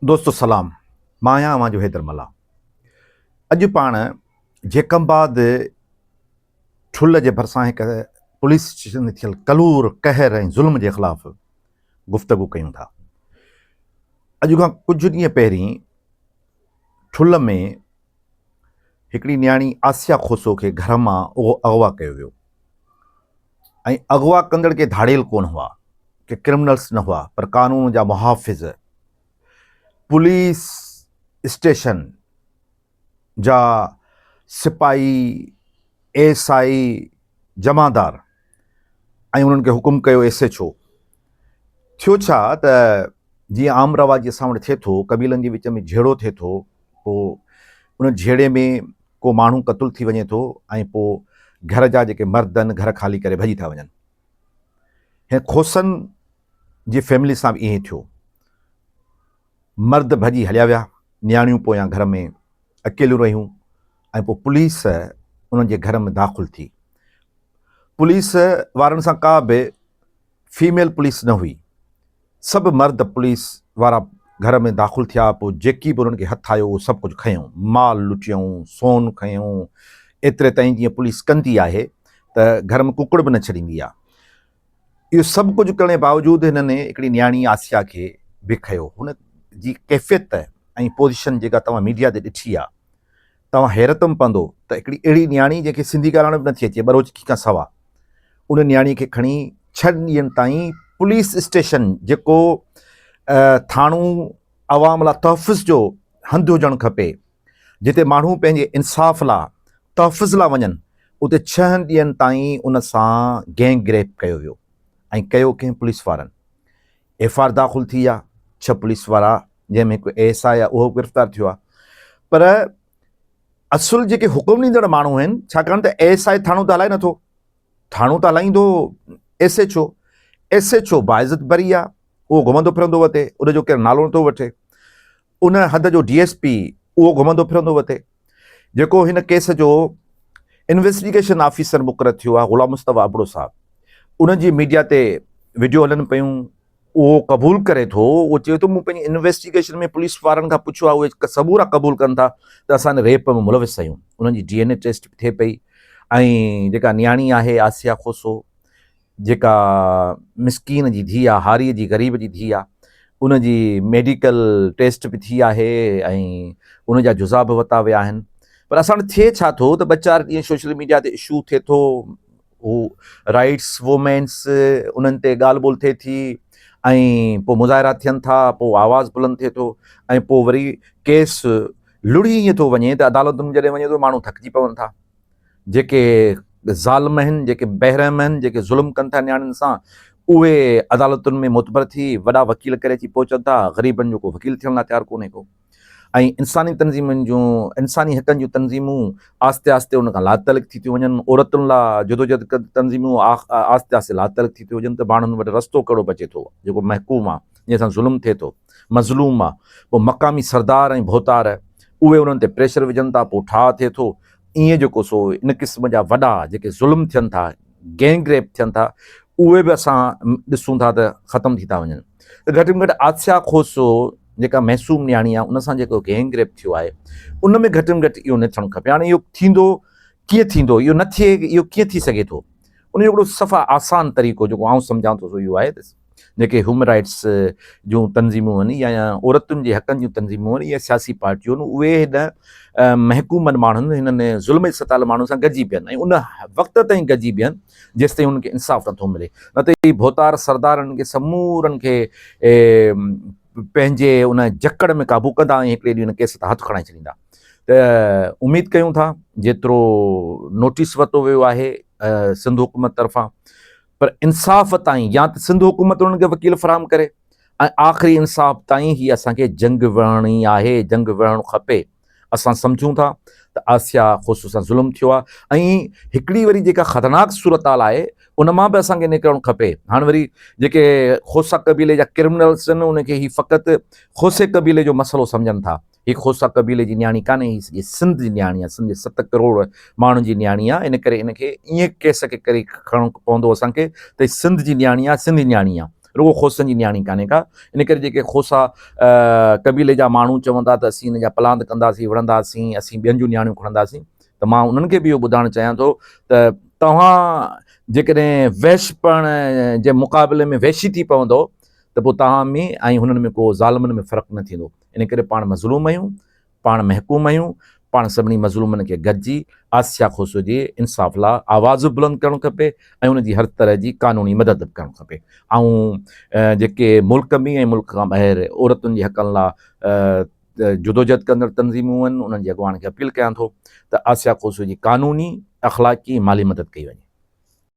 دوستو سلام مان آهيان اوهان جو حيدر ملاح اڄ پاڻ جيڪمباد ٺل جي ڀرسان هڪ پوليس اسٽيشن ۾ ٿيل ڪلور قهر ۽ ظلم جي خلاف گفتگو ڪيون ٿا اڄ کان ڪجهه ڏينهن پهرين ٺل ۾ هڪڙي نياڻي آسيا کوسو کي گهر مان اغوا ڪيو ويو ۽ اغوا ڪندڙ ڪي ڌاڙيل ڪونه هئا، ڪي ڪرمنلس نه هئا پر قانون جا محافظ، پوليس اسٽيشن جا سپاهي، ايس آء جمعدار ۽ انهن کي حڪم ڪيو ايس ايڇ او. ٿيو ڇا ته جيئن عام رواجي اسان وٽ ٿئي ٿو، قبيلن جي وچ ۾ جهيڙو ٿئي ٿو، پوء ان جهيڙي ۾ ڪو ماڻهو قتل ٿي وڃي ٿو ۽ پوء گهر جا جيڪي مرد آهن گهر خالي ڪري ڀڄي ٿا وڃن. هن کوسن جي فيملي سان به ائين ٿيو. مرد ڀڄي هليا ويا، نياڻيون پويان گهر ۾ اڪيليون رهيون ۽ پوء پوليس انهن جي گهر ۾ داخل ٿي. پوليس وارن سان ڪا به فيميل پوليس نه هئي. سڀ مرد پوليس وارا گهر ۾ داخل ٿيا، پوء جيڪي به انهن کي هٿ آيو اهو سڀ ڪجهه کنيائون، مال لٽيائون، سون کنيائون، ايتري تائين جيئن پوليس ڪندي آهي ته گهر ۾ ڪڪڙ به نه ڇڏيندي آهي. اهو سڀ ڪجهه ڪرڻ جي باوجود هنن هڪڙي نياڻي آسيا کي به کنيو. هن جي ڪيفيت ۽ پوزيشن جيڪا توهان ميڊيا تي ڏٺي آهي، توهان حيرت م پوندو ته هڪڙي اهڙي نياڻي جنهن کي سنڌي ڳالهائڻ به نٿي اچي ٻروچڪي کان سوا ان نياڻي کي کڻي ڇهن ڏينهن تائين پوليس اسٽيشن جيڪو ٿاڻو عوام لا تحفظ جو هنڌ هجڻ کپي جتي ماڻهو پنهنجي انصاف لا تحفظ لا وڃن اتي ڇهن ڏينهن تائين ان سان گينگ ريپ ڪيو ويو ۽ ڪيو ڪنهن پوليس وارن ايف آر داخل ٿي آ ڇهه پوليس وارا جنهن ۾ هڪ اي ايس آء آ اهو گرفتار ٿيو آ پر اصل جيڪي حڪم ڏيندڙ ماڻهو آهن ڇاڪاڻ ته اي ايس آء ٿاڻو ته هلائي نٿو ٿاڻو ته هلائيندو S H O S H O باعزت بري آ اهو گهمندو ڦرندو وتي ان جو ڪير نالو نٿو وٺي ان هنڌ جو ڊي ايس پي اهو گهمندو ڦرندو وتي جيڪو هن ڪيس جو انويسٽيگيشن آفيسر مقرر ٿيو آهي غلام مصطفيٰ ابڙو صاحب ان جي ميڊيا تي وڊيو هلن پيون اهو قبول ڪري ٿو اهو چئي ٿو مون پنهنجي انويسٽيگيشن ۾ پوليس وارن کان پڇيو آهي اهي سمورا قبول ڪن ٿا ته اسان ان ريپ ۾ ملوث آهيون انهن جي ڊي اين اي ٽيسٽ به ٿئي پئي ۽ جيڪا نياڻي آهي آسيا کوسو جيڪا مسڪين جي ڌيء آ، هاريء جي غريب جي ڌيء آ، ان جي ميڊيڪل ٽيسٽ به ٿي آهي ۽ ان جا جزا به وتا ويا آهن پر اسان وٽ ٿئي ڇا ٿو ته ٻه چار ڏينهن سوشل ميڊيا تي اشو ٿئي ٿو، هو رائيٽس وومينس انهن تي ڳالهه ٻولهه ٿئي ٿي ۽ پوء مظاهرا ٿين ٿا، پوء آواز بلند ٿئي ٿو ۽ پوء وري ڪيس لڙهي ائين ٿو وڃي ته عدالتن ۾ جڏهن وڃي ٿو ماڻهو ٿڪجي پون ٿا. جيڪي ظالم آهن، جيڪي بيرحم آهن، جيڪي ظلم ڪن ٿا نياڻين سان، اهي عدالتن ۾ معتبر ٿي وڏا وڪيل ڪري اچي پهچن ٿا، غريبن جو ڪو وڪيل ٿيڻ لا تيار ڪونهي ڪو ۽ انساني تنظيمن جون انساني حقن جون تنظيمون آهستي آهستي ان کان لاتعلق ٿي ٿيون وڃن، عورتن لا جدوجهد ڪندڙ تنظيمون آهستي آهستي لاتعلق ٿي ٿيون وڃن ته ماڻهن وٽ رستو ڪهڙو بچي ٿو، جيڪو محڪوم آ، جنهن سان ظلم ٿئي ٿو، مظلوم آ، پوء مقامي سردار ۽ ڀوتار اهي انهن تي پريشر وجهن ٿا، پوء ٺاهه ٿئي ٿو، ائين جو ڪو سو ان قسم جا وڏا جيڪي ظلم ٿين ٿا، گينگ ريپ ٿين ٿا، اهي به اسان ڏسون ٿا ته ختم ٿي ٿا وڃن. ته گهٽ ۾ گهٽ آسيا کوسو جيڪا معصوم نياڻي آهي ان سان جيڪو گينگ ريپ ٿيو آهي ان ۾ گهٽ ۾ گهٽ اهو نه ٿيڻ کپي. هاڻي اهو ٿيندو ڪيئن ٿيندو، اهو نه ٿئي اهو ڪيئن ٿي سگهي ٿو. ان جو هڪڙو صفا آسان طريقو جيڪو آئون سمجهان ٿو سو اهو آهي ته. جيڪي هيومن رائيٽس جون تنظيمون آهن يا عورتن جي حقن جون تنظيمون آهن يا سياسي پارٽيون آهن اهي هن محڪومن ماڻهن هنن ظلم جي ستايل ماڻهن سان گڏجي بيهن ۽ ان وقت تائين گڏجي بيهن جيستائين هنن کي انصاف نٿو ملي نه ته هي ڀوتار سردار هنن کي سمورن کي پنهنجي ان جڪڙ ۾ قابو ڪندا ۽ هڪڙي ڏينهن هن ڪيس تان هٿ کڻائي ڇڏيندا ته اميد ڪيون ٿا جيترو نوٽيس ورتو ويو آهي سنڌ حڪومت طرفان پر انصاف تائين يا ته سنڌ حڪومت انهن کي وڪيل فراهم ڪري ۽ آخري انصاف تائين هي اسان کي جنگ وڙهڻي آهي، جنگ وڙهڻ کپي. اسان سمجهون ٿا ته آسيا خوسو سان ظلم ٿيو آهي ۽ هڪڙي وري جيڪا خطرناڪ صورتحال آهي ان مان به اسان کي نڪرڻ کپي. هاڻ وري جيڪي خوسا قبيلي جا ڪرمنلس آهن انهن کي هي فقط خوسي قبيلي جو مسئلو سمجهن ٿا. هي کوسا قبيلي جي نياڻي ڪانهي، هي سڄي سنڌ جي نياڻي آهي، سنڌ جي ست ڪروڙ ماڻهن جي نياڻي آهي، ان ڪري ان کي ائين ڪيس کي ڪري کڻڻو پوندو اسان کي ته هي سنڌ جي نياڻي آهي، سنڌي نياڻي آهي، رڳو کوسن جي نياڻي ڪانهي ڪا، ان ڪري جيڪي کوسا قبيلي جا ماڻهو چوندا ته اسين ان جا پلاند ڪنداسين، وڙهنداسين، اسين ٻين جون نياڻيون کڻنداسين ته مان انهن کي به اهو ٻڌائڻ چاهيان ٿو ته توهان جيڪڏهن وحش پڻ جي مقابلي ۾ وحشي ٿي پوندؤ ته پوء توهان ۾ ۽ هنن ۾ ڪو ظالمن ۾ فرق نه ٿيندو. ان ڪري پاڻ مظلوم آهيون، پاڻ محڪوم آهيون، پاڻ سڀني مظلومن کي گڏجي آسيا کوسو جي انصاف لا آواز به بلند ڪرڻ کپي ۽ ان جي هر طرح جي قانوني مدد به ڪرڻ کپي. آئون جيڪي ملڪ ۾ ۽ ملڪ کان ٻاهر عورتن جي حقن لا جدوجهد ڪندڙ تنظيمون آهن انهن جي اڳواڻن کي اپيل ڪيان ٿو ته آسيا کوسو جي قانوني، اخلاقي ۽ مالي مدد ڪئي وڃي.